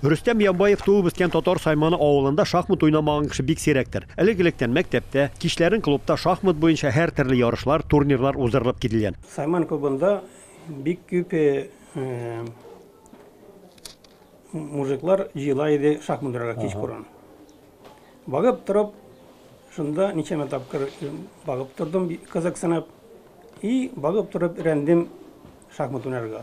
Рөстәм Ямбаев туып-үскән Татар Сайманы авылында шахмат уйнамаган кеше бик сирәктер. Элек-электән мәктәптә, кичләрен клубта шахмат буенча һәртөрле ярышлар, турнирлар уздырылып кителгән. Сайман клубында бик күп мужиклар җыела иде шахмат уйнарга кичкурын. Багып торып, шунда ничәмә тапкыр багып тордым, кызыксынып. И багып торып өйрәндем шахмат уйнарга.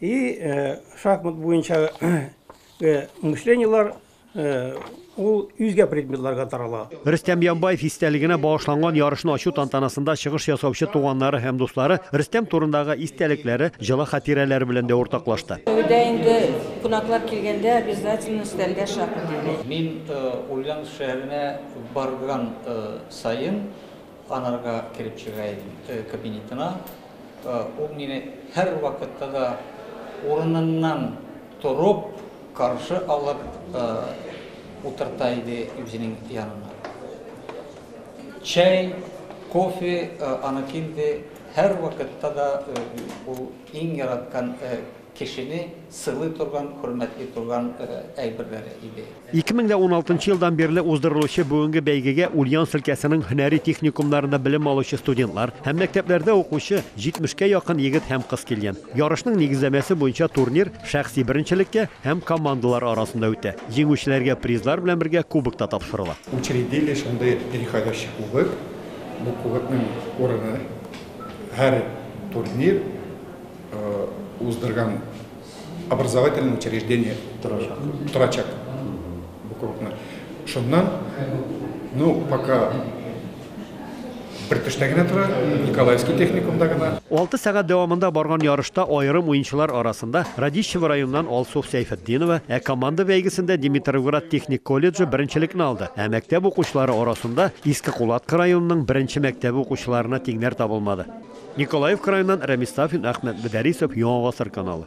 И э, шахмат буенча э, мышлениелар э, ул үзгә предметларга тарала. Рөстәм Ямбаев истәлегенә багышланган ярышны ачу тантанасында чыгыш ясаучы туганнары һәм дуслары Рөстәм турындагы истәлекләре, җылы хатирәләре белән дә уртаклашты. Өйдә инде кунаклар килгәндә обязательно өстәлгә шахмат. Мин Ульяновск шәһәренә барган сайын Анарга кереп чыга идем кабинетына. Ул мине һәрвакытта да урыныннан торып, каршы алып утырта иде үзенең янына. Чәй, кофе аныкы инде һәрвакытта да ул иң яраткан Кешене сыйлый торган, хөрмәтли торган әйберләре иде. Ике мең дә уналтынчы елдан бирле уздырылучы бүгенге бәйгегә Ульяновск өлкәсенең һөнәри техникумнарында белем алучы студентлар һәм мәктәпләрдә укучы җитмешкә якын егет һәм кыз килгән. Ярышның нигезләмәсе буенча турнир шәхси беренчелеккә һәм командалар арасында үтә. Җиңүчеләргә призлар белән бергә кубок та тапшырыла. Учредили шундый переходящий кубок. Бу кубокның урыны һәр турнир, уздырган образовательный учреждение торачак, торачак. буквально шуннан ну пока бер төштә генә тора николаевский техникумда гына алты сәгать дәвамында барган ярышта аерым уенчылар арасында радищево районыннан алсу сәйфетдинова ә команда бәйгесендә димитровград техник колледжы беренчелекне алды ә мәктәп укучылары арасында иске кулатка районының беренче мәктәбе укучыларына тиңнәр табылмады Николаев краеннан Рәмис Сафин, Әхмәт Мөдәрисов, Яңа Гасыр каналы.